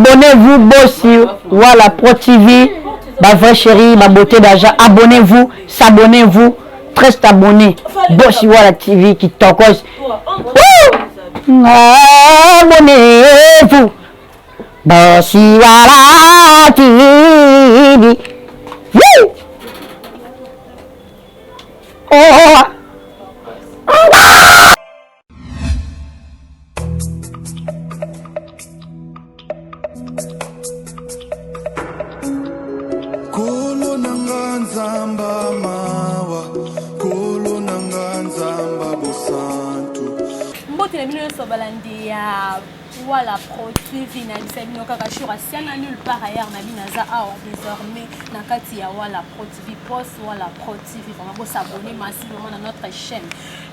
Abonnez-vous Bossi Wala Pro TV, ba vrai chérie, ma beauté d'agent. Abonnez-vous, s'abonnez-vous, très abonné. Bossi Wala TV qui tokos. Abonnez-vous, Bossi Wala TV. Woo! Oh! na bino nyonso balandi ya wala pro tv nayebisa bino kaka jour asiana nul par ailleurs na bino aza awa désormais na kati ya wala pro tv post wala pro tv vraimen bosabone masi vraimen na notre chaîne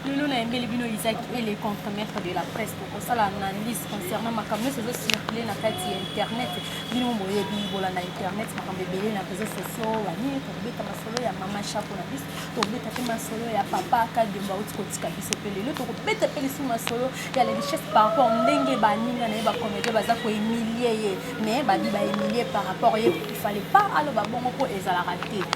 lelo nayembeli bino isaac ele contre maître de la presse tokosala analyse concernant makambo nyonso ezocircule na kati ya internet bino boyebi bolanda internet makambo ebele na réseau sociaux banini tokobeta masolo ya mama chapo na biso tokobeta mpe masolo ya papa kadembo auti kotika biso mpe lelo tokobeta mpe lisusu masolo ya la richesse par rapport ndenge baninga na ye bacomédie baza koemilie ye mais babi baemilie par rapport ye ifale pas aloba bongo mpo ezalaka te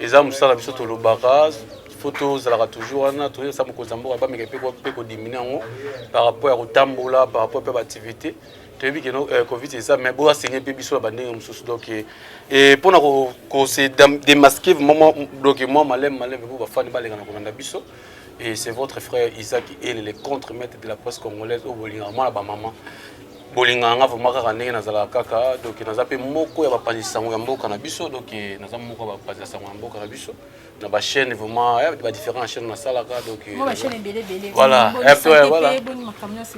eza mosala biso tolobaka fo tozalaka toujours wana toyesa mokonzi ya mboka bameka mpe kodimine yango par rapport ya kotambola par rapport mpe baactivité toyebi keno euh, covid eza mais boya senye mpe biso na bandenge mosusu donc euh, euh, mpo na kose démasquer vraiment donc mwa maleme maleme mpo bafani baleka na kolanda biso et c'est votre frère Isaac Elele contre maître de la presse congolaise au Bolinga mwana ba maman bolingaka nga vraimen kaka ndenge nazalaka kaka donc naza mpe moko ya bapanzi sango ya mboka na biso donc naza moko ya bapanzi ya sango ya mboka na biso na bachaîne vraiment eh, badifférent chaîne nasalaka donc voilà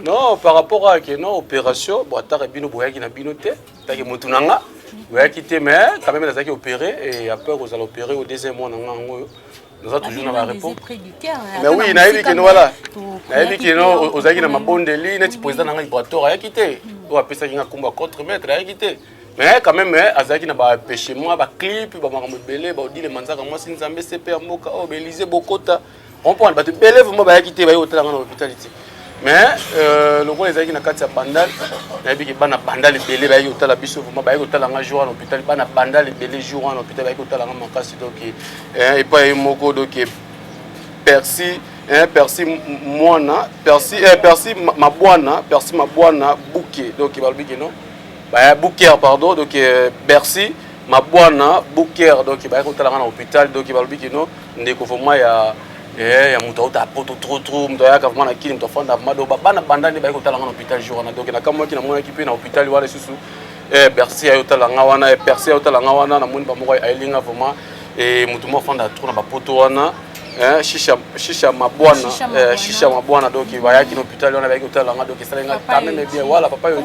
non par rapport à ke non opération bon ataka bino boyaki na bino te take motu na nga boyaki te mais quand même nazalaki opéré et après kozala opéré au deuxième mois na nga yango oyo naza toujours na bareponse mais oui nayebi keno wala nayebi keno ozalaki na mabondeli neti président na ngai brator ayaki te oyo apesaki nga kombo ya contre maître ayaki te mais quand même azalaki na bapeche mwa baclip bamakambo ebele baodile manzaka mwasi nzambe sepe ya mboka oyo oh, baelise bokota comprendre bato ebele vraimen bayaki te baye kotala nga na hôpital te mais euh, lokola ezalaki na kati ya bandal nayebi ke bana bandal ebele bayaki kotala biso vraimen bayaki kotala nga jour wana hôpital bana bandal ebele jour wana hôpital bayaki kotala nga makasi donc eh, epai ye moko donc eh, persi eh, persi mwana persi eh, persi mabwana persi mabwana buke donc balobi ke non baya buker pardon donc eh, bercy mabwana buker donc bayaki kotala nga na hôpital donc balobi ke non ndeko vraimen ya Eh, ya moto auta poto trop trop moto ayaka vraimen na kini moto afanda vraimen do bana banda nde baye kotala nga na hôpital jour wana donc nakamwaki namonaki mpe na hôpital wana lisusu eh, bercy aye otala nga wana eh, percy aye otala nga wana namoni bamoko ayeli nga vraimen eh, moto mo afanda trop na bapoto wana eh, shisha, shisha mabwana eh, shisha mabwana donc bayaki na hôpital wana bayaki kotala nga donc esali nga quand même bien wala papa yo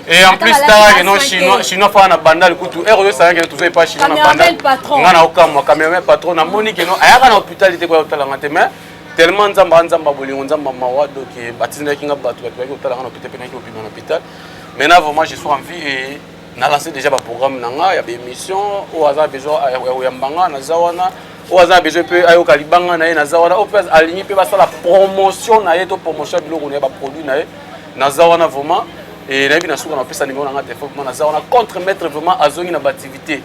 Et en plus, t'as que non, chinois, chinois, pas na bandal, kutu, et on sait que tu fais pas chinois na bandal. On a aucun moi, quand même, patron, na moni que non, ailleurs à l'hôpital, il était quoi, t'as la matin, mais tellement nzamba nzamba bolingo nzamba mawa donc eh, batindaki nga bato bato bayaki kotalanga na hôpital mpe naki obima na hôpital maintenant vraiment je suis en vie et na lancé déjà baprogramme na nga ya baémission oyo aza besoin ya koyamba nga naza wana oyo aza na besoin mpe ayoka libanga na ye naza wana oyo mpe alingi mpe basala promotion na ye to promotion ya biloko na ye baproduit na ye naza wana vraiment et nayebi na suka na pesa numéro na nga téléphone vraiment naza wana contre maître vraiment azongi na bativité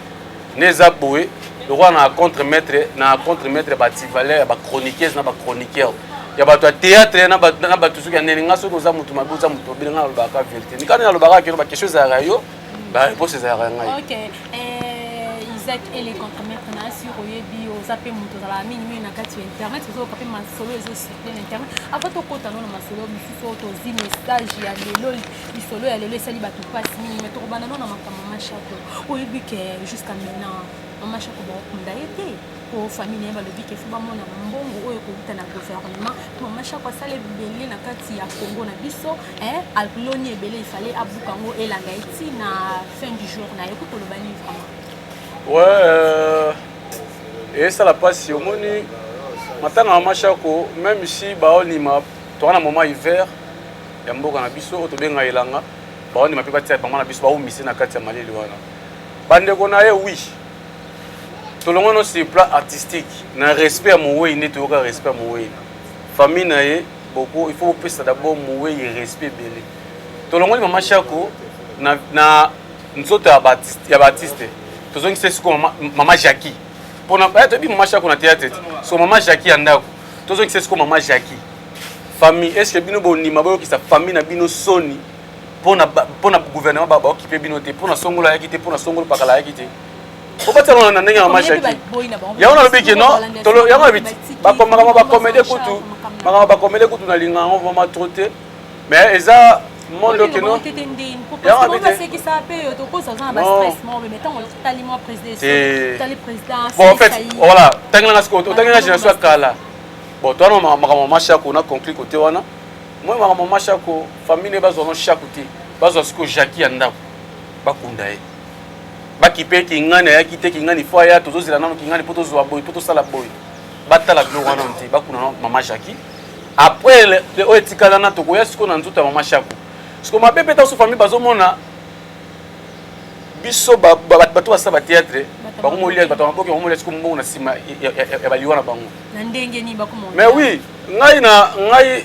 ne eza boye lokola na contre maître na contre maître bativaleur ya bachroniqueuse na bachroniqueur ya bato ya théâtre na bato soki ya nene nga soki oza moto mabe oza moto obele nga nalobaka vérité mikani nalobaka keno baquestion ezalaka yo bareponse ezalaka ya ngai eh, isaac ele contre maître na sur oyebi oza mpe moto ozalaka mingimingi na kati ya internet ozoyoka mpe masolo ezosi bien internet avant tokota no na masolo mosusu oyo tozwi message ya lelo lisolo ya lelo esali bato mpasi mingi me tokobanda no na makambo ma chateau oyebi ke jusqu'à maintenant mama shako bakokunda ye te po famille na ye balobi ke fo bamona na mbongo oyo ekowuta na gouvernement mama shako asala ebele na kati ya congo na biso aloni ebele ifale abuka yango elanga ye ti na fin du jour na ye kokoloba nini vraiment ouais, euh... esala mpasi omoni matanga ya mashako meme si baonima toa na moment hiver ya mboka na biso oyo tobenga elanga baonima mpe batia mama na biso baumise na kati ya malili wana bandeko na ye wi tolongwano sur plan artistique na respect ya mowei nde toyoka respect ya mowei famille na ye boko il faut bopesa d'abord mowei respect ebele tolongoli mama shako na, na nzoto ya batiste ya batiste tozongi se siko mama, mama Jackie pona ba eh, tobi mama Shako na théâtre so mama Jackie ya ndako tozongi se siko mama Jackie famille est-ce que bino bondima boyokisa famille na bino soni pona pona gouvernement ba occupé bino te pona songola yaki te pona songolo pakala yaki te obatalana na ndenge ya mama Jackie yango nalobi ke non tolo yango abiti bakomaka ma bakomede kutu makambo bakomede kutu na linga yango vraiment trop te mais eza monde oyo kino tete ndeni po parce que ba seki sa pe yo to kosa za ba stress mo mais tant on tali mo président tali président bon en fait voilà tangi na siko tangi na génération ya kala bon toi non makambo ma shako na conclure côté wana moi makambo ma shako famille ne bazwa no shako te bazwa siko jacki ya ndako bakunda ye bakipe kingani ayaki te kingani fo aya tozozela nano kingani mpo tozwa boye mpo tosala boye batala biloko wana te bakuna mama jacki après le- le- oyo etikala na tokoya sikoyo na nzoto ya mama shako siko mabe mpe taso famille bazomona biso ba- ba- ba- bato basala batheatre Bato bango molia maboke. bato ya maboke bango molia siko mbongo na nsima ya- ya- ya- ya baliwa na bango na ndenge nini bakoma mais oui ngai na ngai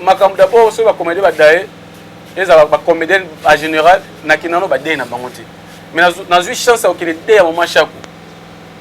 makambo d'abord soki bacomédien badaye ezala bacomédien en général nakenda no badaye na bango te mais nazu- nazwi chance ya kokende de ya mama shako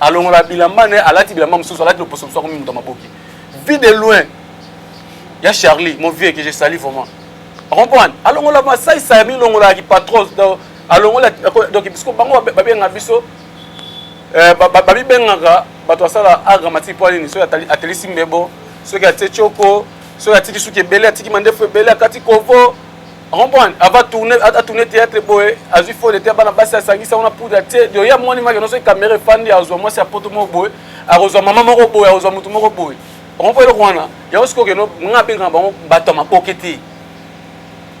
alongola bilamba ne alati bilamba mosusu alati loposo mosusu akomi moto ya maboke vie de loin ya charlie mon vieux que je sali vraiment acomprendre alongola masaisa ya milongolaka kipatros alongola donc bisko bango babenga biso eh, babibengaka bato asala art dramatique mpo nini soki atelisi mbebo soki atie tioko soki atiki suki ebele atiki mandefu ebele akati kovo comprendre ava tourne a tourne théâtre boye azwi fo lete bana basi asangisa wana poudre atie dio ya mwani maki noso kamera efandi azwa mwasi ya poto moko boye akozwa mama moko boye akozwa motu moko boye okompo eloko wana yango sikoyo keno nga abengaka bango bato ya maboke te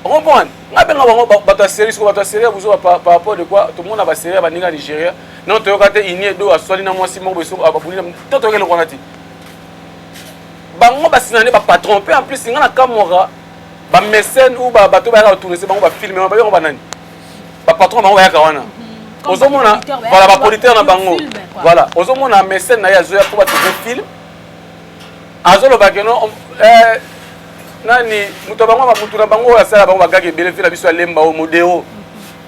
okomprendre nga abengaka bango bato ya serie sikoyo bato ya serie ya buzoba par rapport de quoi tomona baserie ya baninga nigeria nano toyoka te ini edo aswali na mwasi moko boye abuli to toyoka eloko wana te bango basina nde bapatron mpe en plus nga nakamwaka ba mécène ou ba bato bayaka kotournese bango bafilme wana bayoko banani bapatron na bango bayaka wana mhm. ozomona voilà bapolitere na bango voilà ozomona mécène na ye azoya mpo batourne film azoloba keno eh, nani moto bango motu na bango oyo asala bango bagaki ebele mpe na biso ya lemba oyo modero mhm.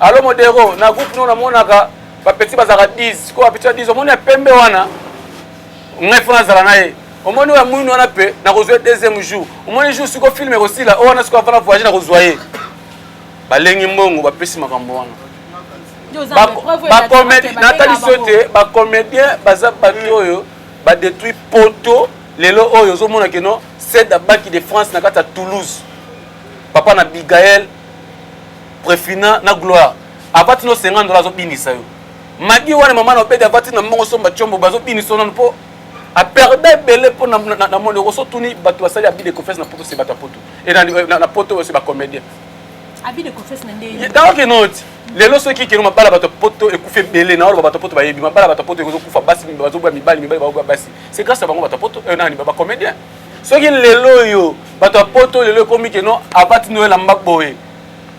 alo modero na groupe no namonaka bapeti bazalaka 10 sikoyo bapeti ya 10 omoni ya pembe wana ngai fo nazala na ye omoni oyo amwini wana mpe nakozwa ye deuxième jour omoni jour siko filme ekosila oyo wana siko afana voyage nakozwa ye balengi mbongo bapesi makambo wana natalisi yo te bacomédien baza bato oyo badetruit poto lelo oyo ozomona keno sed abaki de france na kati ya toulouse papa na bigael prefina na gloire apatino 50 dola azobinisa yo magi wana mama na obedi avati na mbongo somba combo bazobinisa nanu mpo aperda ebele mpo na moni okoso tuni bato basali abide confesse na poto se bato ya poto e na poto se bacomédien donc enoti lelo soki keno mabala bato ya poto ekufi ebele na oloba bato ya poto bayebi mabala bato ya poto ekozokufa basi bazoboya mibali mibali baoboya basi se grâce ya bango bato ya poto eh, nani bacomédien soki lelo oyo bato ya poto lelo ekomi keno abati noyela mba boye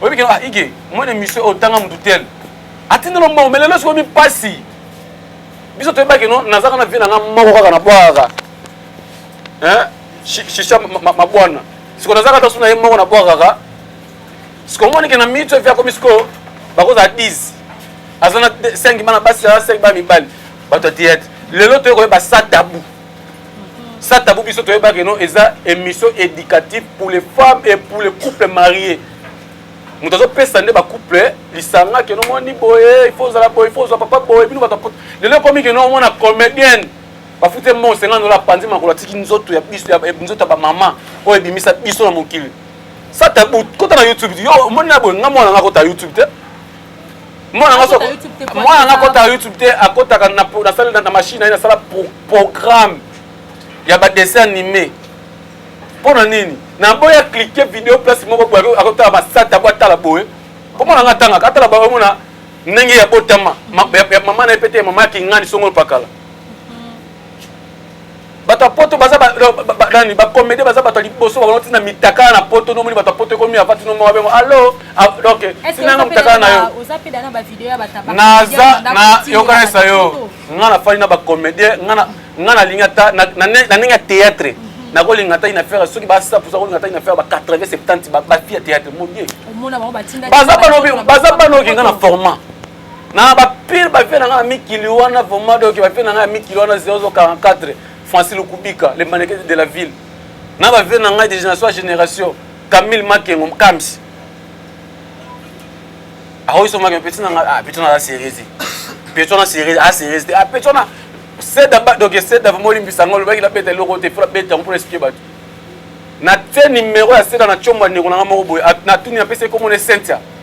oyebi kino ah, ige mwa na emission oyo tanga motu tel atindelo mbongo me lelo sikomi mpasi biso toyeba kino nazaka na vie na nga moko kaka nabwakaka shisha mabwana siko nazaka ta so na ye moko nabwakaka siko omoni ke na minute evi akomi sikoyo bakozala 10 aza na 5 bana basi aza 5 bana mibali bato ya teyatre lelo toyekoyeba sa tabu sa tabou biso toyeba que non eza émission éducative pour les femmes et pour les couples mariés moto azopesa nde bacouple lisanga keno omoni boye ifo ozala boye ifo ozwa papa boye bino bato lelo ekomi keno omona comédienne bafuti mbongo senga ndola apanzi makolo atiki nzoto ya biso eh, nzoto ya bamama oyo ebimisa biso na mokili sata kota na youtube yo omoni na boye nga mwana nga kota youtube te mwana nga soko mwana nga akotaka youtube te akotaka nasali na machine na ye nasala programme ya badessin anime mpo na nini naboya klike video place moko boye akotala basata po atala boye mpo mwana nga atangaka atala boye omona ndenge ya botama mama na ye pete mama ya kingani songolo pakala bato ya poto baza nani bacomédien baza bato ya liboso bakono ntina mitakala na poto nomoni bato ya poto ekomi ava tino moko bengo allo ah, ok tinanga mitakala na yo naza na yokanisa yo nga nafandi na bacomédien nga nalingi ata na ndenge ya théâtre mhm. nakolinga ata ina faire soki basa posa kolinga ata ina faire ba 80 70 bafille ya théâtre modie baza banoki nga na format na ba pire ba vie na nga mikili wana vraiment donc ba vie na nga mikili wana 0044 Francis Lukubika le mannequin de la ville na ba vie na nga de génération génération Camille Makengo Mkamsi akoki so Makengo petit na nga ah petit na la série petit na série ah série ah petit na seda ba donc seda vraiment limbisa ngo lobaki na beta loko te pour beta pour expliquer bato na tie numéro ya seda na chomba ndeko na nga moko boye na tuni na pesi ekomona Cynthia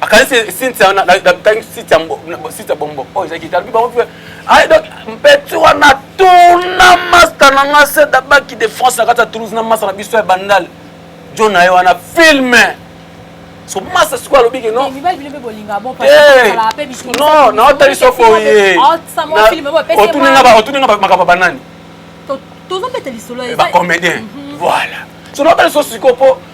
akanisi sintia natangi sintia sintia bombo oyo ezalaki talobi bango mpe aye donc mpeti wana tuna masta na nga se dabaki de france na kati ya toulouse na masta na biso ya bandal jo na ye wana filme so masta sikoyo alobi ke non naotali so boye otuni nga makambo banani bacomédien voilà so naotali so sikoyo mpo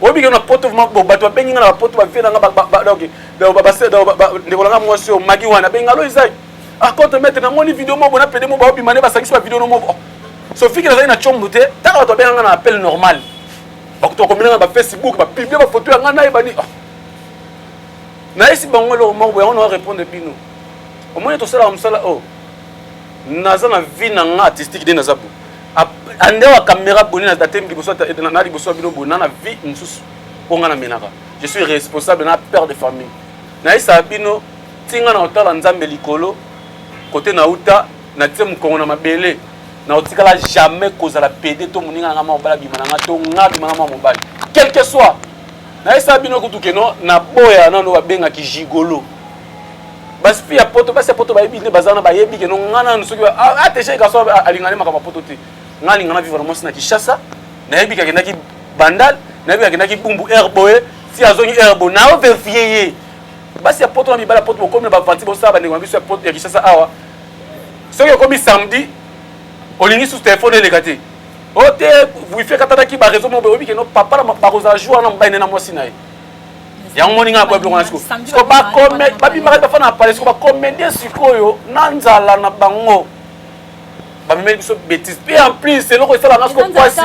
oyebi ke na poto bato babengi nga na bapoto bavie na nga ndeko na nga mwasi oyo magi wana abengi nga lo ezai akote ah, maitre namoni video moko na pede moko baobima nde basangisi ba video no moko sofi ke nazali na combo te ntango bato babenga nga na appel normal bakutu bakomina nga na bafacebook bapiblie bafoto ya nga nayebani ah. nayesi bango eloko moko boyango na wa répondre bino omoni tosalaka mosala oyo oh. naza na vie na nga artistique nde naza boye andewa camera boni na date liboso na liboso ya bino boye na na vie mosusu mpo nga na menaka je suis responsable na père de famille nayesaka bino ntinga na kotala nzambe likolo kote na uta natie mokongo na mabele na kotikala jamais kozala pede to moninga na nga mwa mobali abima na nga to nga abima na mwa mobali quelque soit nayesaka bino kutu keno na boya nano babengaki gigolo basi ya poto basi ya poto bayebi nde bazana bayebi keno nga nanu soki ateche kaso alinga nde makambo ya poto te nga alinga na vivre na mwasi na kinshasa nayebi kakendaki bandal nayebi kakendaki bumbu air boye ti azongi air boye nao verifie ye basi ya poto na mibali ya poto bokomi na bavanti bosala bandeko na biso ya kinshasa awa soki ekomi samedi olingi susu telefone eleka te o te wifi ekatanaki bareseau moko boye oyebi keno papa bakozala jour wana mobali nde na mwasi na ye yango moni ngai nakoya biloko na siko siko babimaka bafa na pale siko bacomédien sikoyo na nzala na bango bamemeli biso bétise mpe en plus eloko esalanga siko mpasi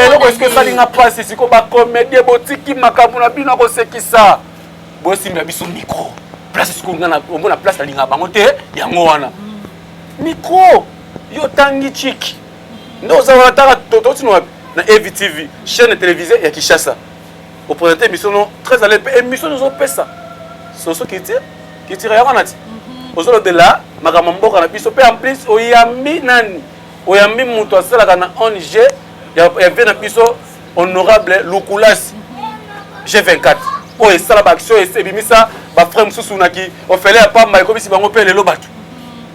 eloko siko esali nga mpasi siko bacomédien botiki makambo na bino akosekisa bosimba biso micro place siko nga omona place nalingaka bango te yango wana micro yo otangi chiki nde oza wana tala tototi na avtv chaîne télévisée ya kinshasa opresente émission no très ale mpe émission nozopesa soso kiti kitira ya wana ti mhm. ozolobela makambo ya mboka na biso mpe en plus oyambi nani oyambi moto asalaka na ong ya vie na biso honorable lukulasi g24 oyo esala baaction ebimisa bafrai mosusu naki ofele ya pamba ekomisi bango mpe lelo bato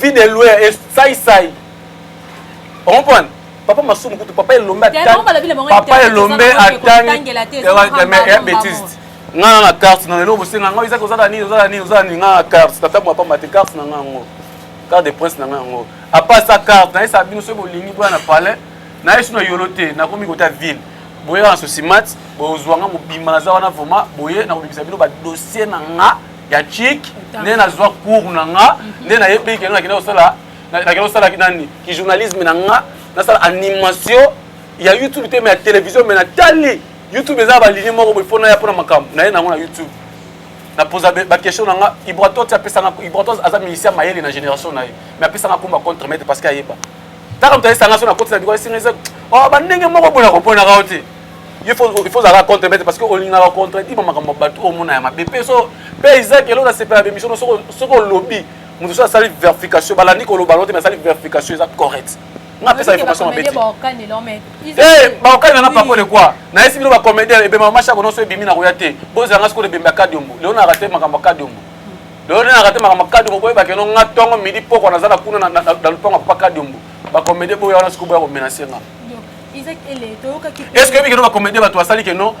vie de loyer et sai sai on comprend papa masumu kutu papa elombe papa elombe atangi bêtise nga na carte na lelo bosenga nga ezaka ozala nini ozala nini ozala nini nga na carte tata mwa pamba te carte na nga yango carte de prince na nga yango apa sa carte na yesa bino soki bolingi boya na palais na yesu na yolo te nakomi kota ville boyeka na sosimati bozwa nga mobimba naza wana vraimen boye nakobimisa bino badossier na nga ya chic nde nazwa cour na nga mhm. nde nayebi keno nakenda kosala nakenda kosala nani ki journalisme na nga nasala animation ya youtube te mais ya télévision mais natali youtube eza balinie moko boye mpo naya mpo na makambo naye nango na youtube napoza baquestion na nga ibratos apesanga ibratos aza musicien mayele na génération na ye mais apesanga komba contre maître parce que ayeba taka moto ayesanga so na koti na biko esinga eza oh, bandenge moko boye nakoponaka yo te il faut il faut zala contre bête parce que olingaka contre dit makambo bato omona ya mabe pe so pe Isaac elo na sepela be mission soko soko lobby mutu so asali verification balandi ko loba lote mais asali verification eza correct nga pesa information mabe ti eh baokani na pako de quoi na esi bino ba comédien ebe mama shako no so ebimi na koya te boza nga soko de bemba kadiombo leo na raté makambo kadiombo lelo nde nakate makambo kadi moboye bakeno nga ntongo midi pokwa naza na kuna na lupango ya papa kadi ombu bakomede boya wana sikoboya komenase nga est ce que oyebi keno bacomédien bato basali keno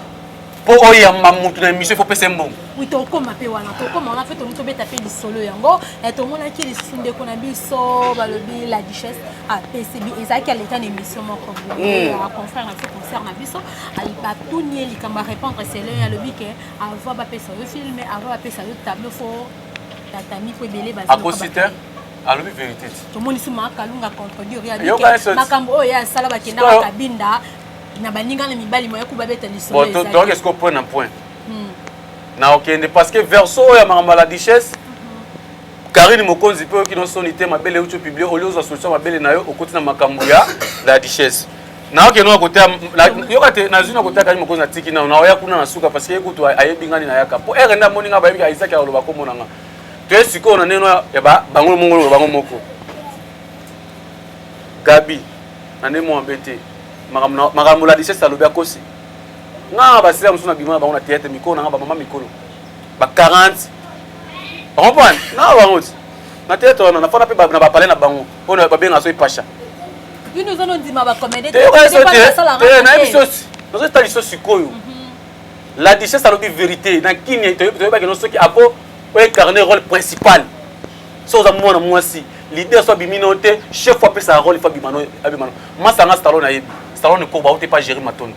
mpo oyamba motu na émission fo pesa mbongo oui tokoma mpe wana tokoma wana mpe tomi tobeta mpe lisolo yango eh, tomonaki lisusu ndeko na biso balobi la duchesse apesi ah, ezalaki aleka na émission moko hmm. confrère na biso concert na biso batuni ye likambo arépondre selo ye alobi ke avant bapesa yo filme avant bapesa yo tableau fo tatami mpo ebele bazakosite alobi verité ti tomonisi ma kalunga contredire ya dike makambo oyo ya asala bakendaka kabinda na baninga na mibali moya kubabeta lisolotoyoka esiko point na point hmm. na okende parce que verso oyo ya makambo ya la duchesse karine hmm. mokonzi mpe oyoki no soni te mabele euti opiblie oli ozwa solution mabele na yo okoti na makambo ya la duchesse nayoke no akoteya yoka te nazwi na koteya kani mokonzi natiki nano naoya kuna na suka parce que ye kutu ayebi ngani nayaka mpo ere nde amoni ngai bayebi isaki akoloba komona ngai toye sikoyo na ndenge ya bango mongolo bango moko gabi na ndenge mwa mabe te makambo la lisese alobi akosi nga basila mosusu na bima na bango na teyatre mikolo na nga bamama mikolo ba 40 okomprane nga bango ti na teyatre wana nafana mpe na bapale na bango oyo babenga so epasha nayebi sosi nazotali so sikoyo mhm. la lisese alobi verité na kimia toyebaki no soki ako o incarner role principal so oza mwana mwasi leader so abimi no te chef apesa role fo abima no abima no masanga stallone ayebi stallone koba ote pa gérer matondo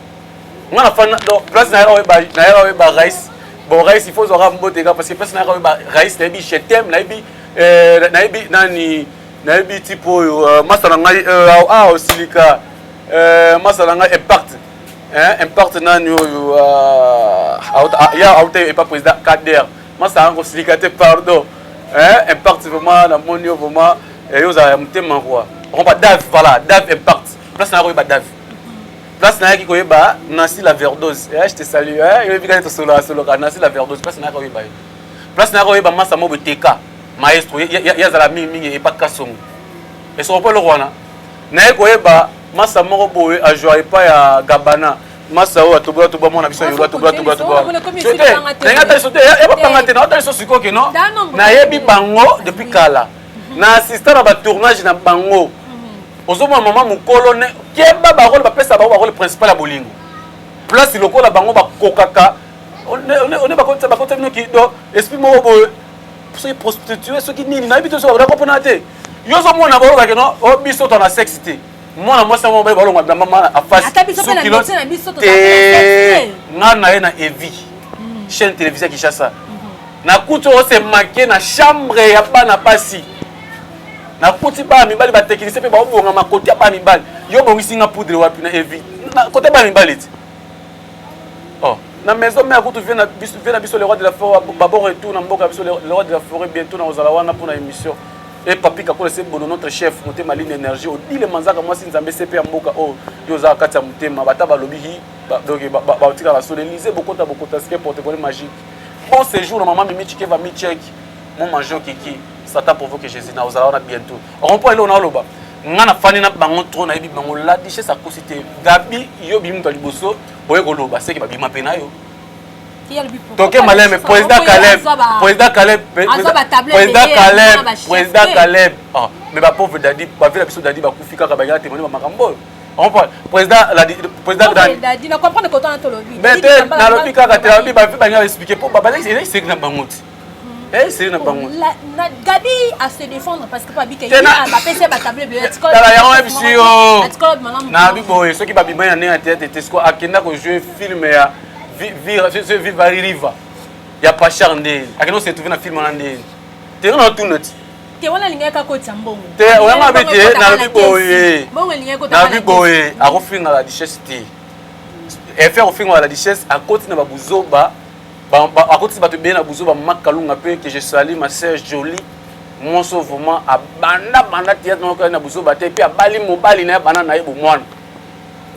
nga na fana donc place na yaka oyeba na yaka oyeba rais bon rais il faut ozwaka mbote nga parce que place na yaka oyeba rais nayebi je t'aime nayebi euh, nayebi nani nayebi type oyo euh, masa na ngai euh, awa osilika masa na ngai impact eh impact nani oyo ah, auta ah, ya auta epa président Kader masanga kosilika te pardon eh impact vraiment na moni yo vraiment eh, yo ozala ya motema quoi okomba dave voilà dave impact place na koyeba dave place nayaki koyeba nansi la verdose eh, je te salue eh, oyebi kani tosolola soloka nansi la verdose place nayaki koyeba ye place nayaki koyeba masa mobo teka maestro ye azala mingi mingi epa kasongo esoko mpo eloko wana naye koyeba masa moko boye ajua epai ya gabana masa oyo atobola tobola mwana biso yola tobola tobola tobola ndenge atali sote ya bapanga te na otali so sikoyo keno nayebi bango depuis kala na assistant na batournage na bango ozomona mama mokolo ne keba barole bapesa bango barole principal ya bolingo place lokola bango bakokaka one bakotisa bino kido esprit moko boye soki prostitue soki nini nayebi te soki bakoda kopona te yo ozomona bayokake no o oh, biso to na sexe te mwana mwasi yango baye balonga bilamba mama afasisukilotete nga na ye na evi hmm. chaîne télévisée ya kinshasa hmm. nakuti ose make na chambre ya bana basi nakuti bana mibali bateknise mpe baobonga makoti ya bana mibali yo obongisi nga poudre wapi na evi kota bana mibali ti oh na maison mère kutu vie na biso vie na biso le roi de la forêt ba bon retour na mboka biso le roi de la forêt bientôt na ozala wana pour na émission et papi kakole c'est bon notre chef motema ligne énergie odile manzaka mwasi nzambe sepe ya mboka oyo oh, yo ozala kati ya motema bata balobi hi donc batika basolo elise bokota bokota sike protocole magique bon séjour na mama mimi chikeva mi chek mon manjo kiki satan provoque jésus na ozala wana bientôt rond point eloo na oloba nga na fani na bango trop nayebi bango la duchesse akosi te gabi yo bimi moto ya liboso oye koloba seke babima mpe nayo toke maleme président caleb président caleb président caleb président caleb ah, mais bapauvre dadi bavi na biso dadi bakufi kaka bayaka temoni bamakambo oyo président nalobi kaka te nalobi bavi balinga baexplike mpo bazali na bango te Eh, c'est na bango. Gabi à se défendre parce que pas bika il a ba pesa ba table de l'école. Tala ya web si yo. Na bi boye soki ba bima ya nea tete tesko akenda ko jouer film ya vivre ce vivre riva. Ya pachar nde. Akenda se trouver na film na nde. Te na tunati. Te wana lingaka ko tsambongo. Te wana bi te na bi boye. Bongo lingaka ko Na bi boye akofinga la richesse te. Effet akofinga la richesse akoti na ba buzoba. akotisi bato ebele na buzoba mak kalunga mpe que je sali ma sœur jolie monso vraiment abanda banda théâtre moko na buzoba te mpe abali mobali na ye bana na ye bomwana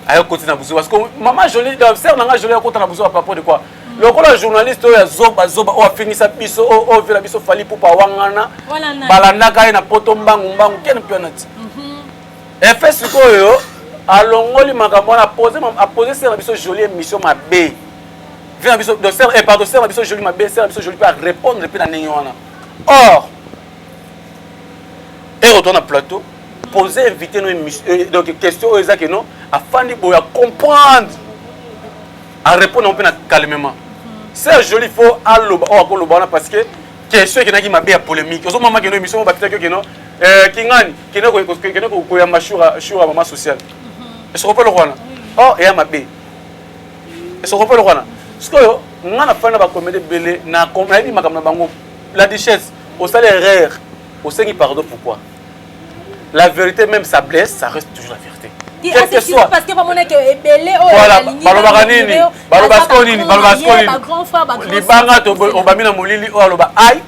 ayo koti na buzoba siko mama jolie euh, sœur na nga jolie akota na buzoba papo de quoi lokola journaliste oyo ya zoba zoba oyo afingisa biso oyo ovela biso fali pupa wangana balandaka ye na poto mbangu mbangu ken pionati mhm. efe sikoyo alongoli makambo wana apose sœur na biso jolie émission mabe vie na biso donc sœur eh pardon sœur na biso joli mabe sœur na biso joli mpe a répondre mpe na ndenge wana or ero to na plateau poser invité no euh, donc question oyo eza ke non afandi boye a comprendre a répondre yango mpe na calmement sœur joli faut aloba oyo oh, akoloba wana parce que question ekendaki mabe ya polémique ozomama keno émission bakitaki yo keno eh, kingani keno koyamba shura mama sociale esokope eloko wana or eya mabe esokopo eloko wana sikoyo nga nafani na bakomede ebele nayebi makambo na bango la duchesse osali erreur osengi pardon pourquoi la vérité même sa blesse ça reste toujours la vérité quelque soit parce que bamona ke ebele oyo voilà balobaka nini baloba sikoyo nini baloba sikoyo nini libanga obami na molili oyo aloba ai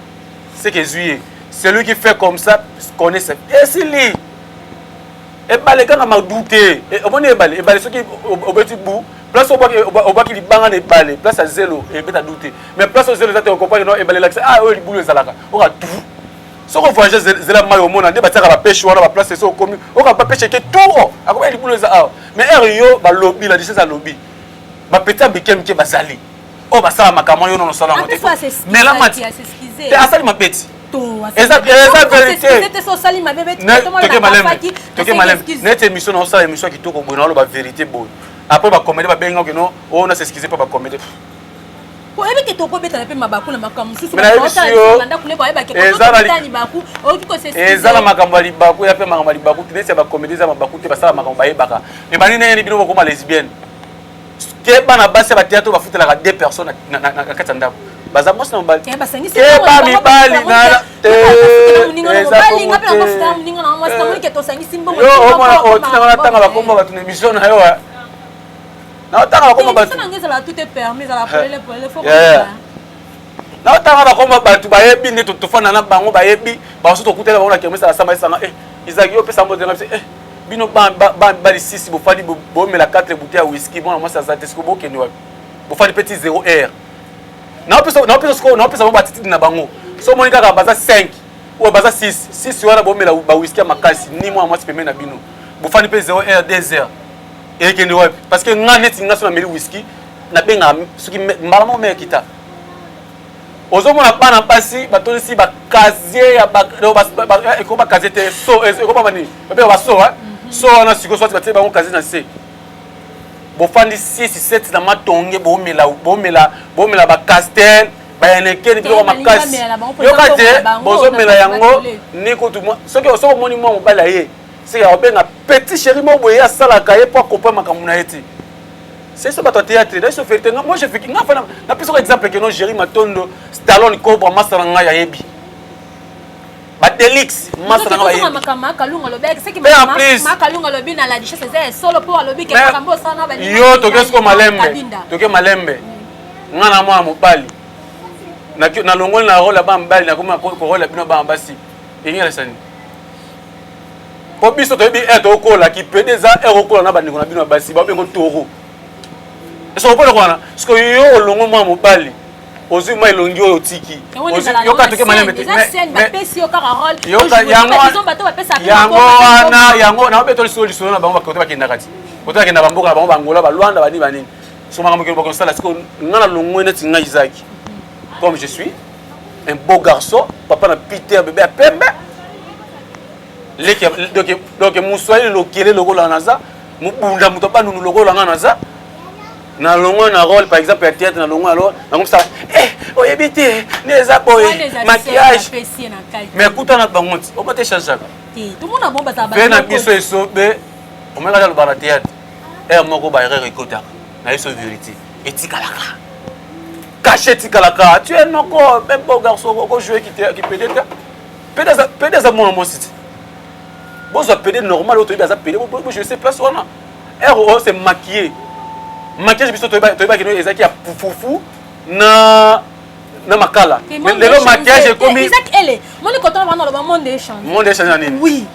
seke ezwi ye celui qui fait comme ça connaît esili ebale kaka madu te e, omoni ebale ebale soki obeti bu place obwaki libanga na ebale place ya zelo ebeta du te mais place oyo zelo eza te okompani no ebale elakisa ah oyo libulu ezalaka oka tu soki ovoyage zela mai omona nde batiaka bapeshe wana baplace soki okomi oka bapeshe ke tour akoba libulu eza awa mais ere yo balobi la disese alobi bapeti ya mike mike bazali oyo basala makambo wana yo nono osala yango te mela mati te asali mabeti eza veriteoke maleme neti émission na osala émission ya kitoko boye naoloba verité boye après bakomede babenga okeno oyo oh, na s'excuse mpo bakomede oyebi ke tokobetana mpe mabaku na makambo mosusu eza na makambo ya libaku ya mpe makambo ya libaku te neti ya bakomedi eza mabaku te basala makambo bayebaka ebandi ndenge ni bino bokoma lesbienne ke bana basi ya bateatre oyo bafutelaka deux personnes na kati ya ndako baza mwasi na mobali keba mibali naomona otinanga natanga bakombo bato na emission na yo naotanga bakombo bato naotanga bakombo bato bayebi nde tofanda na bango bayebi bamosusu tokutela bango na kermesa na samba esanga eh, ezalaki yo opesa mbote na biso eh, bino bali sisi bofandi bomela 4 bouteille ya whisky mwana mwasi aza te siko bokende wapi bofandi mpe ti 0 heure naopesa sikoyo naopesa bango batitidi na bango so omoni kaka baza 5 oyo baza 6 6 wana bomela bawhiski ya makasi ni mwana mwasi pembeni na bino bofandi mpe 0 heure 2 heure ekende wapi parce que nga neti nga so nameli whisky nabengaka soki mbala moko mekita ozomona bana basi batondisi bakazie ya eh, eko bakazie te so eh, ekobama nini babenga baso eh? mhm. so wana sikoyo soki batie bango kazie na se bofandi sisi seti na matonge bomela bomela bomela bacastel bayenekeni biloko makasi yoka te bozomela yango ni kutu soki soki omoni mwa mobali ya ye seke akobenga petit chéri moko boye asalaka ye mpo akopa makambo na ye ti c'est ça bato ya théâtre na biso verité nga moi je fiki nga fana napesaka exemple keno géri matondo stallone cobra masta na ngai ayebi badelix masta na ngai ayebi yo toke siko malembe toke malembe nga na mwana mobali nalongoli na role ya bana mobali nakomi korola bino bana basi engelasani mpo biso toyebi heure tokokola kipede eza heure okola na bandeko na bino ya basi babengo toro ese okola kwana siko yo olongo mwa mobali ozwi mwa elongi oyo otiki yango wana yango na babetoli solo lisolo na bango bakote bakendaka ti kote bakenda bamboka na bango bangola balwanda banini banini so makambo kelo bakosala siko ngai na longwe neti ngai izaki comme je suis un beau garçon papa na peter bebe ya pembe donc moswahili lokele lokola naza mobunda moto abanunu lokola nga naza na longwa na role par exemple ya théâtre na longwa na role nango mosala eh, oyebi te nde eza boye maquillage mais kuta na bango ti oba te changeaka mpe na biso esobe omeka ta loba na théâtre heure moko baerreur ekotaka na biso verité etikalaka kashe etikalaka tu es noko même beau garçon oko jouer ki te ki pede te pede za pede za mwana mwasi ti bozwa pede normal oyo toyebi aza pede bo bo jouer place wana heure oyo c'est maquillé maquillage biso toyeba toyeba kino ezaki ya fufu na na makala lelo maquillage ekomi moni kotala bana loba monde echange monde echange na nini oui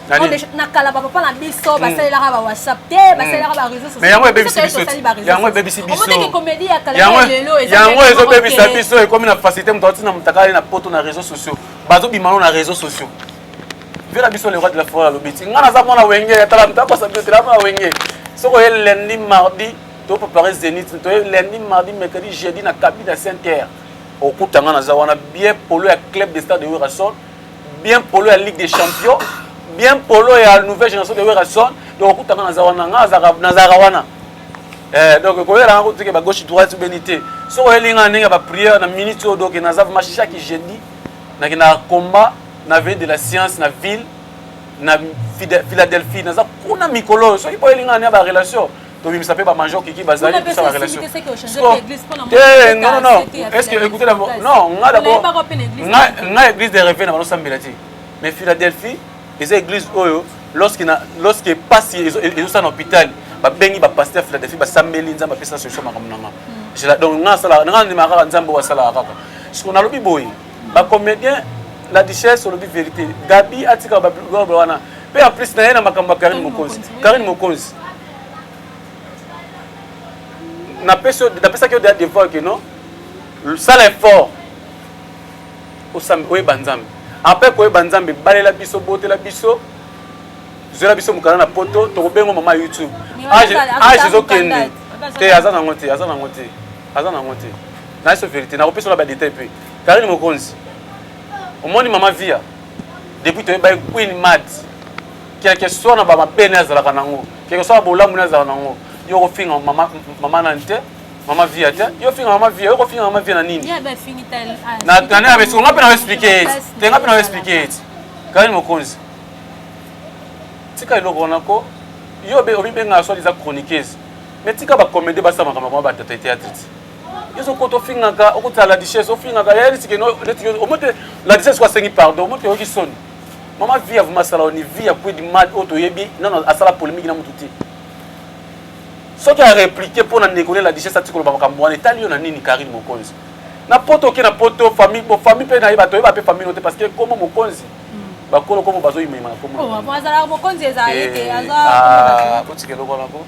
na kala bapapa na biso hmm. basalelaka ba whatsapp te hmm. basalelaka ba réseau socialme yango ebebisi biso yango ebebisi bisoomoteke komedi ya kala lelo yango ezobebisa biso ekomi na facilité moto atina motakali na poto na réseau sociaux bazobima no na réseau sociaux vela biso le roi de la forêt alobi ti ngai naza mwana wenge atala moto akosa biso tela mwana wenge soki oye lundi mardi to préparer zénith to ye lundi mardi mercredi jeudi na kabine ya saint terre okuta nga naza wana bien polo ya club de stade de werrason bien polo ya ligue des champions bien polo ya nouvelle génération de werrason donc okuta nga naza wana nga nazalaka wana eh, donc koyela nga kotike ba gauche droite obeni te soki oyeli nga ndenge ya bapriere na minute oyo donc naza vraimen chaque jeudi nakendaka combat na veille de la science na ville na philadelphie naza kuna mikolo oyo soki boyeli nga ndenge ya barelation tobimisa mpe ba major kiki bazali kosala relation te non non est ce que écoutez d'abord non nga d'abord nga nga église de rêve na bano sambela te mais Philadelphie eza église oyo lorsque na lorsque pasi ezosala na hôpital babengi ba pasteur Philadelphie basambeli nzambe apesa solution makambo na nga donc nga asala nga ndima kaka nzambe oyo asalaka kaka siko nalobi boye ba comédien la duchesse olobi vérité gabi atika ba wana mpe en plus na ye na makambo ya karine mokonzi karine mokonzi napesi napesaki yo deja devoir que non sala effort oyeba nzambe après koyeba nzambe balela biso botela biso zwela biso mokanda na poto tokobengo mama youtube age ah, ezokende te aza nango te aza nango te aza nango te naye so verité nakopesa ola badetail mpe karine mokonzi omoni mama via depuis toyebaki queen mat quelque soit na bamabe ne azalaka nango quelque soit na bolamu ne azalaka nango yo okofinga mama, mama nani te mama via te yo ofinga mama via yo okofinga mama via na nini nani abesi nga mpe na oexplike ye ti te nga mpe na oexplike ye ti kani mokonzi tika eloko wana ko yo obibengaka soit eza chroniqueuse mais tika bacomédie basala makambo koma batata eteatre ti yo sokota ofingaka okotala la duchesse ofingaka yayelisikeno omete la duchesse ko asengi pardon omete oyoki soni mama vie ya vumasala ni vie ya kwedi mad oyo toyebi nano asala polémique na mutu te soki areplike mpo na ndeko lela dichese ati koloba makambo wana etali yo na nini karine mokonzi na poto oke na poto famille bo famille mpe na ye bato oyeba mpe famille no te parce que nkombo mokonzi hmm. bakolo nkombo bazoyimayima na nkomboazalaka oh, mokonzi ezali eh, te azakotika ah, eloko nako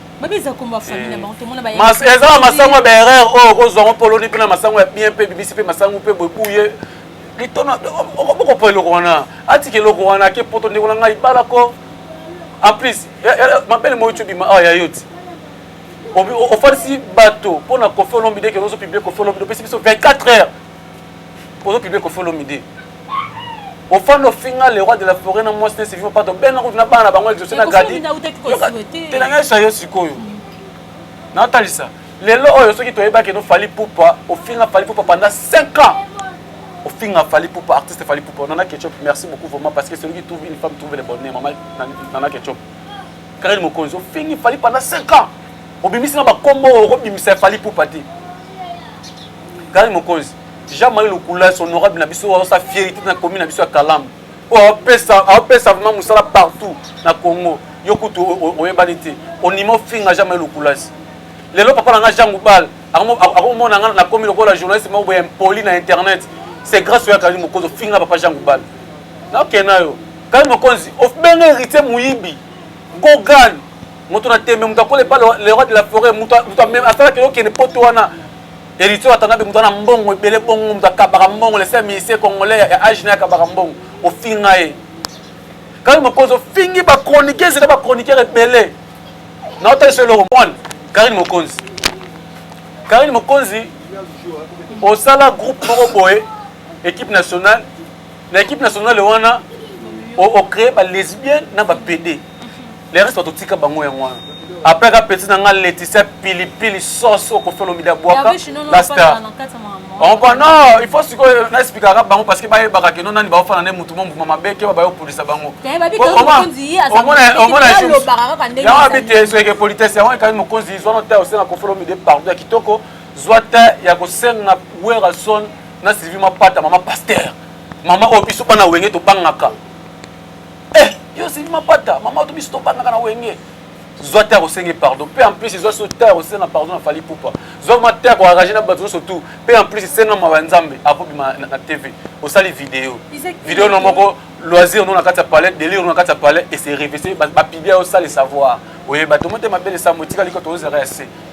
ezala masango ya baerreur oyo okozwango poloni mpe na masango ya bien mpe bibisi mpe masango mpe bobuye litona okoboko po eloko wana atika eloko wana ake poto ndeko na ngai bala ko en plus mabele moyo cobima awa ya yo ti ofalisi bato mpo na kofi olomide kende ozo publie kofi olomide opesi biso 24 heures ozo publie kofi olomide ofanda ofinga le roi de la forêt na mwasi na sivima pato bena kutu na bana na bango exauce na gadi tenanga esa yo sikoyo natalisa lelo oyo soki toyeba keno fali pupa ofinga fali pupa pendant 5 ans ofinga fali pupa artiste fali pupa nana ketchup merci beaucoup vraiment parce que celui qui trouve une femme trouve le bonheur maman nana ketchup karine mokonzi ofingi fali pendant 5 ans obimisi na bakombo okobimisa fali pupa te karine mokonzi jean marie lokula son honorable na biso osa fierité na commune na biso ya kalamu oyo apesa apesa vraiment mosala partout na congo yo kutu oyebani te onima ofinga jean marie lokulasi lelo papa na nga Jean Goubal akomona nga na komi lokola journaliste moko boye impoli na internet c'est grâce oya kali mokonzi ofinga papa Jean Goubal nakena yo kali mokonzi obenga héritier moyibi gogan moto na tembe moto akola epa le roi de la forêt moto asalaki okende poto wana héritier atanda mpe moto ana mbongo ebele bongo moto akabaka mbongo le seul ministre congolais ya age na akabaka mbongo ofinga ye kali mokonzi ofingi bachroniqueuse na bachroniqueur ebele naotalisa eloko mwana karine mokonzi karine mokonzi osala groupe moko boye équipe nationale na équipe nationale wana ocree balesbienne na bapede le reste batotika bango yango wana après ka petit na nga leticia pilipili sauce okofela omida bwaka la star Ompa non, il faut sikoyo na expliquer kaka bango parce que ba yebaka que non nani ba ofana ne mutu mo mbuma mabe ke ba yo polisa bango. Omona omona je. Ya wa bite so ke politesse ya wa ka mo konzi zo no ta osena ko follow mi de pardon ya kitoko zwa ta ya ko senga Werrason na Sylvie Mapata mama pasteur. Mama o biso bana wenge to bangaka. Eh, yo Sylvie Mapata, mama to biso to bangaka na wenge. zwa te akosenge pardon mpe en plus ezwa so te akosenga pardon na fali pupa zwa ma te akoarage na bato nyonso tu mpe en plus senga mawa ya nzambe akobima na tv osali video video na moko loisir no na kati ya palais delire no na kati ya palais ese revese bapibia osali savoir oyeba tomotema bele sambo etikali ko tozozela ya se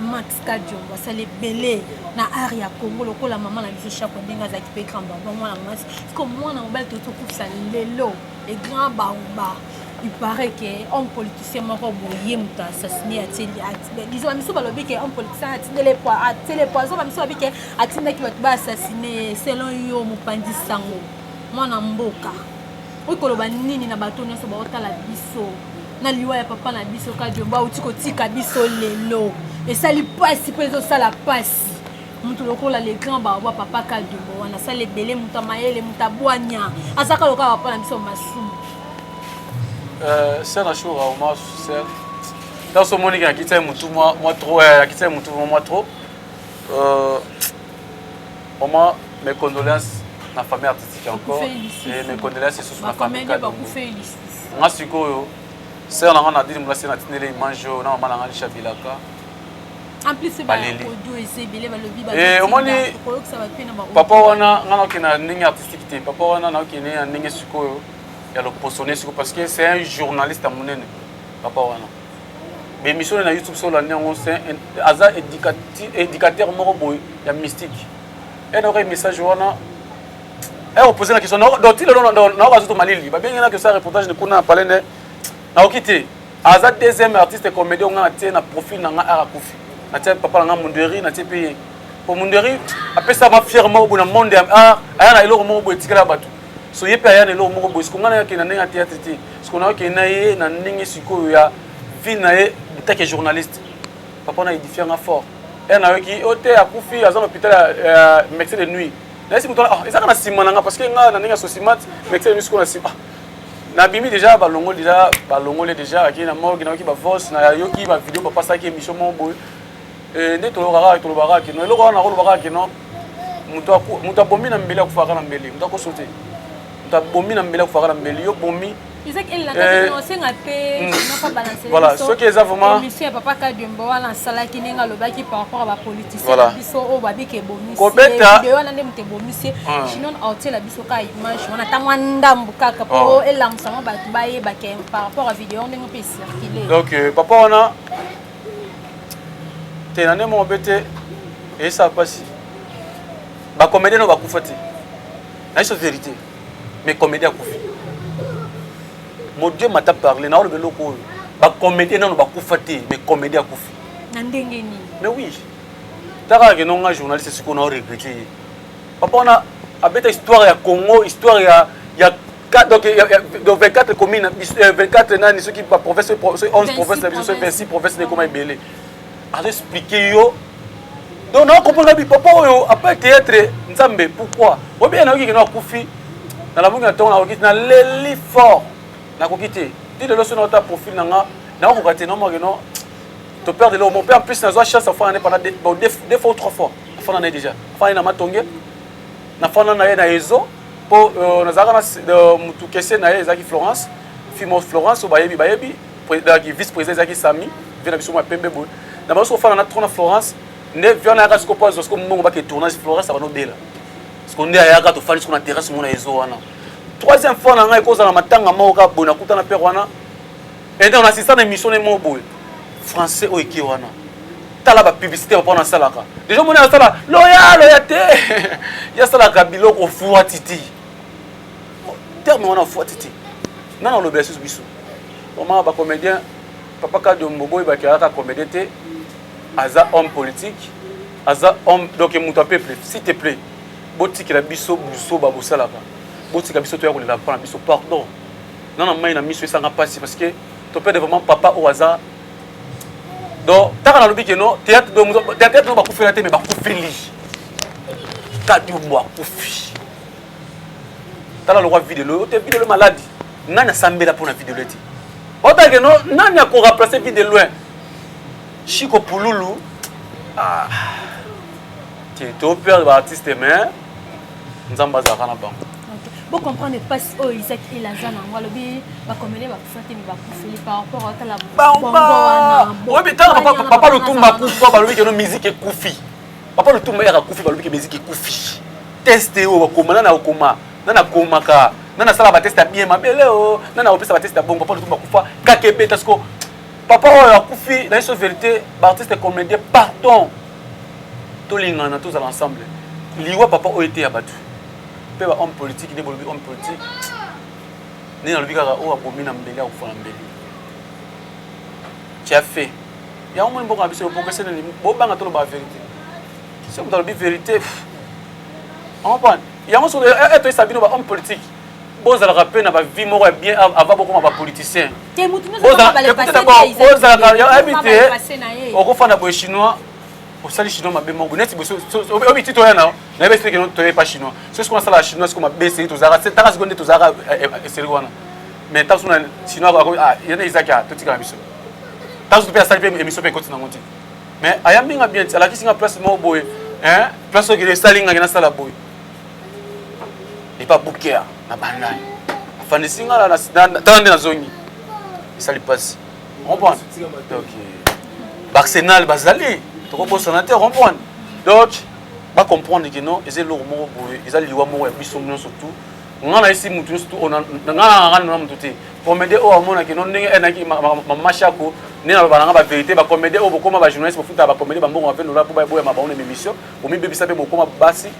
Max Kadiongo asali ebele na art ya Congo lokola mama na biso Shako ndenge azalaki mpe grand baba mwana mwasi siko mwana mobali toyei tokufisa lelo e grand baba il paraît que homme politicien moko boye moto assassine atindeliso bamisu balobi ke homme politicien atindele atindele poison bamisu balobi ke atindaki bato ba assassine selon yo mopanzi sango mwana mboka okoki koloba nini na bato nyonso baotala biso na liwa ya papa na biso kadiombo auti kotika biso lelo esali mpasi mpo ezosala mpasi moto lokola le grand baobwa papa kadiombo wana asala ebele moto ya mayele moto abwanya azaka lokola papa na biso masumu euh, sera shora oma ser ntanso omoniki akitisa ye motu mwa trop akitisa ye motu mwa trop Vraiment, mes condoléances na famille artistique encore. Et mes condoléances lisusu na famille Kadongo. Nga sikoyo, sœur na nga na dini mulasi na tinele image oyo na mama na nga Lisha Bilaka. En plus, c'est pas audio et c'est belé, balobi, balobi. Et omoni, papa wana, nga naoke na ndenge artistique te. Papa wana naoke na ndenge sikoyo ya loposone sikoyo parce que c'est un journaliste ya munene. Papa wana. ba émission na youtube so olandi yango aza éducateur moko boye ya mystique enoka message wana opose na question donc ti lelo naoka azoto malili babengi na question ya reportage ni kuna na palais nde naoki te aza deuxième artiste comédien onga natie na profil na ngai arakufi natie papa na ngai munderi natie mpe ye po munderi apesama fiere moko boye na monde ya art aya na eloko moko boye etikala ya bato so ye mpe aya na eloko moko boye siko ngai nayakee na ndenge ya théâtre te siko nayakee na ye na ndenge sikoyo ya vie na ye take ya journaliste papa na édifia nga fort ere nayoki o oh, te akufi aza na hôpital ya médecin de nuit nayesi moto ah, ezaka na nsima na nga parce que nga na ndenge ya sosimate médecin de nuit sikoyo na nsima ah, nabimi déjà balongoli déjà balongoli déjà akei na morgue nayoki bavos nayoki bavideo bapasaki émission moko boye Eh, nde toloka kaka toloba kaka kino eloko wana nakoloba kaka kino moto abomi na mbeli akufaka na mbeli moto akoso te moto abomi na mbeli akufaka na mbeli yo bomi eh, mm. voilà soki eza vraimentkobeta donc papa wana te na ndenge moko mpe te eyesaka mpasi bacomédien no bakufa te na biso vérité mais comédien akufi modieu mata parle na oloba eloko oyo bacomédien nano bakufa te mais comédien akufi na ndenge nini mais oui taka kende nga journaliste sikoyo na oregrete ye papa wana abeta histoire ya congo histoire ya, ya donc euh, euh, donc 24 communes 24 euh, nani soki ba province soki 11 province na biso soki 26 province na ekoma ebele azo expliquer yo donc na comprendre bi papa oyo après théâtre nzambe pourquoi obi na yoki na kufi na la mungi na tongo na yoki na leli fort na koki te ti lelo sona ta profil na nga na ko kati na mo no to perdre le mon père en plus na zo chance à faire pendant deux fois ou trois fois fana na déjà fana na matonge na fana na ye na ezo po euh, nazalaka na euh, mutu kese na ye ezalaki florence fimo florence oyo bayebi bayebi ezalaki vice président ezalaki sami vie na biso mwa pembe boye na banso ofana na tro na florence nde vie wana yaka siko po azwa siko mbongo bake tournage florence abana obela siko nde ayaka tofandi siko na terrasse mona ezo wana troisième fois na ngai ekozala matanga moko kaka boye nakutana pere wana Et donc, on assiste à une émission de mots français au équipe wana. Tala ba publicité au pona salaka. Déjà mon sala loya loya te. Ya salaka biloko fuwa titi. Terme wana fuwa titi. Nana lobe ya susu biso. Vraiment ba comédien papa Kadio Mboboy ba kiaka comédien te. Aza homme politique. Aza homme donc mutu a peuple. S'il te plaît. Botikela biso buso ba bosalaka. Botika biso to ya kolela pona biso pardon. nga na mai na miso esanga mpasi parce que topede vraiment papa oyo aza donc ntaka nalobi ke no théâtre théâtre no bakufela te mais bakufeli kadiombo akufi tala lokwa videlo ote videlo maladi nani asambela mpo na videlo ete otake no nani akoremplace vide loin chiko pululu ah. te toperde baartiste mais nzambe azalaka na bango bo comprendre mpasi oyo isak el aza nango alobi bakomele bakufa te bakufeli par rapport atala papa lotumba akufa balobi keno musique ekufi papa lotumba yaka akufi balobi ke musique ekufi teste oyo bakoma nana okoma nana akomaka nana asala bateste ya bien mabele o nana akopesa bateste ya bongo papa lotumba akufa kaka ebeta siko papa oyo akufi na biso verité baartiste comédien pardon tolingana tozala ensemble liwa papa oyo eteya bato mpe ba homme politique nde bolobi homme politique nde nalobi kaka oyo abomi na mbeli akufa na mbeli tia fe yango moni mboka na biso bopokese nini bobanga toloba verité soki moto alobi verité yango mpo yango soki etoyisa bino ba homme politique bozalaka mpe na bavie moko ya bien avant bokoma bapoliticien oyebi te okofanda boye chinois osali chinois mabe moko neti oyebi ti toya nao nayebi esili keno toya epa chinois so sikoyo nasalaka chinois sikoyo mabe esili tozalaka taka sikoyo nde tozalaka eh, eh, esili wana mais ntango so na chinois ah, yana ezaki a ah, totikala biso ntango so mpe asali mpe émission mpe ekoti nango te mais ayambi nga bien ti alakisi nga place moko boye place okende esali nga ke nasala boye epa bukea na bandani afandisi nga na tala nde nazongi esali mpasi comprendre donc baarsenal bazali tokobosana te comprendre donc bacomprendre ke non eza eloko moko boye eza liwa moko ya biso nyonso tout nga na esi mutu nyonso nga nanga nona mutu te comédien oyo amonaki no ndenge enaki mama shako nde naloba nanga baverité bacomédien oyo bokoma bajournaliste bofutaka bacomédien bambongo mape nola mpo baboya mabango na émission omibebisa mpe bokoma basi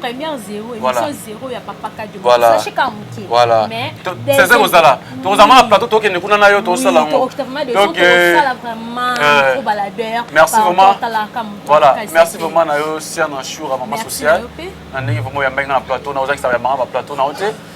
première zero émission zero ya papa kadio sache ka moke voilà c'est kozala tokozala mama plateau tokende kuna na yo tosala yango tosala vraiment trop baladeur merci vraiment voilà merci vraiment na yo siana shura mama sociale na ndenge vraiment oyambaki nga na plateau na ozakisa ya mama ba plateau na yo te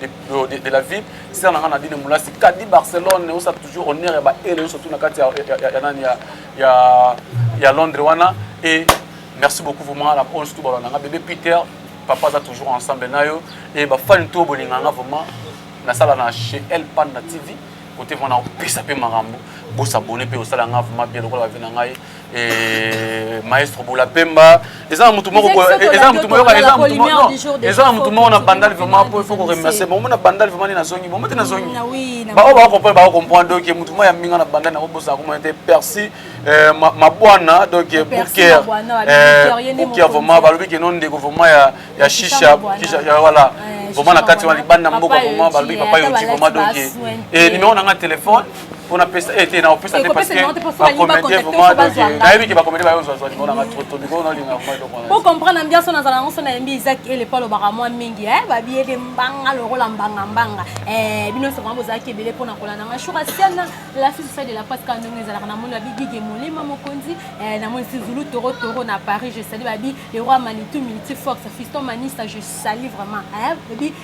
de, euh, de, de la ville sera nanga Nadine Moulasi Kadi Barcelone on ça toujours honneur ya ba ele surtout na kati ya ya ya nani ya ya ya Londres wana et merci beaucoup vraiment la on surtout balona bébé Peter papa za toujours ensemble nayo et ba fan to bolinga nga vraiment na sala na chez El Panda TV côté vraiment na pesa pe marambo bo s'abonner pe osala nga vraiment bien lokola ba vie na ngai et maestro bola pemba eza na motu moko eza na motu moyoka eza na motu moko eza na motu moko na bandal vraiment po il faut ko remercier bon mona bandal vraiment ni na zongi bon mona na zongi mm, ba o ba comprendre ba comprendre donc motu moko ya minga na bandal na kobosa ko mona te persi euh, mabwana donc bouker euh, bouker vraiment ba lobi ke non ndeko vraiment ya ya shisha voilà vraiment na kati wana libanda mboka vraiment ba lobi papa yo ti vraiment donc et numéro na nga téléphone mpona pesa eh, te na opesa te parce que bacomédien vraiment nayebi ke bacomédien bayo ozwazwa limao nanga trop to likolo naolinga vraiment eloko wana po comprendre ambiance oyo nazala yango so nayembi isak ele po alobaka mwa mingi eh, babiyede mbanga lokola mbanga mbanga eh, bino nyonso vraiment bozalaki ebele mpona kolanda nga shuka siana la fille sociale de la presse kaka ndenge ezalaka na moni babi gige molema mokonzi eh, na moni sizulu toro toro na paris je sali babi le roi manitou miniti fox fiston manista je sali vraiment babi